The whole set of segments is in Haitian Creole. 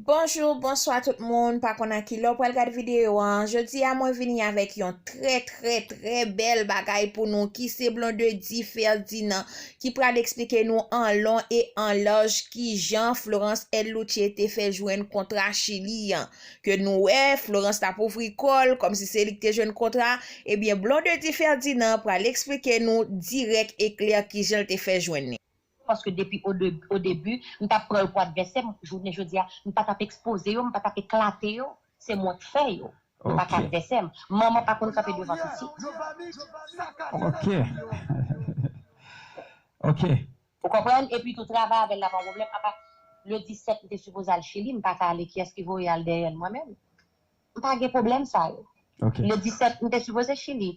Bonjour bonswa tout moun pa konn a kilè w pral gad video an jodi a mwen vini avèk yon trè trè trè bèl bagay pou nou ki se Blondedy Ferdinand ki pral eksplike nou an lon e an laj ki jan Florence El Luche te fè jwenn kontra Chili an. Ke nou wè, Florence t ap ouvri kò l, kòm si se li ki te jwenn kontra a, ebyen Blondedy Ferdinand pral eksplike nou dirèk e klè ki jan l te fè jwenn li. Paske depi o debi, m t ap pran yo pou advèsè m, jounen jodi a, m pa t ap ekspoze yo, m pa t ap eklate yo. Se mwen k fè yo. Yo pa ka advèsè m. Manman pa konn kanpe devan pitit. Ok. Ok. Ou konprann? Epi tou travay avè l la pa yon pwoblèm. Apa le 17 m te sipoze al Chili, m pa ka ale kiyès ki voye al dèyè l mwen menm? M pa gen pwoblèm sa yo. Ok. Le 17 m te sipoze Chili.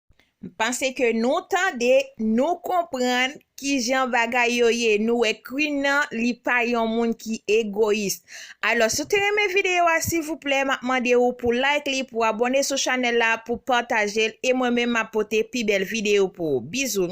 M panse ke nou tande, nou konprann kijan bagay yo ye. Nou wè Queen nan, li pa yon moun ki egoyis. Alò, si w te renmen videyo a, silvouplè, m ap mande ou pou like li, pou abòne sou chanèl la, pou pataje l, e mwen menm m ap pote pi bèl videyo pou ou. Bizou!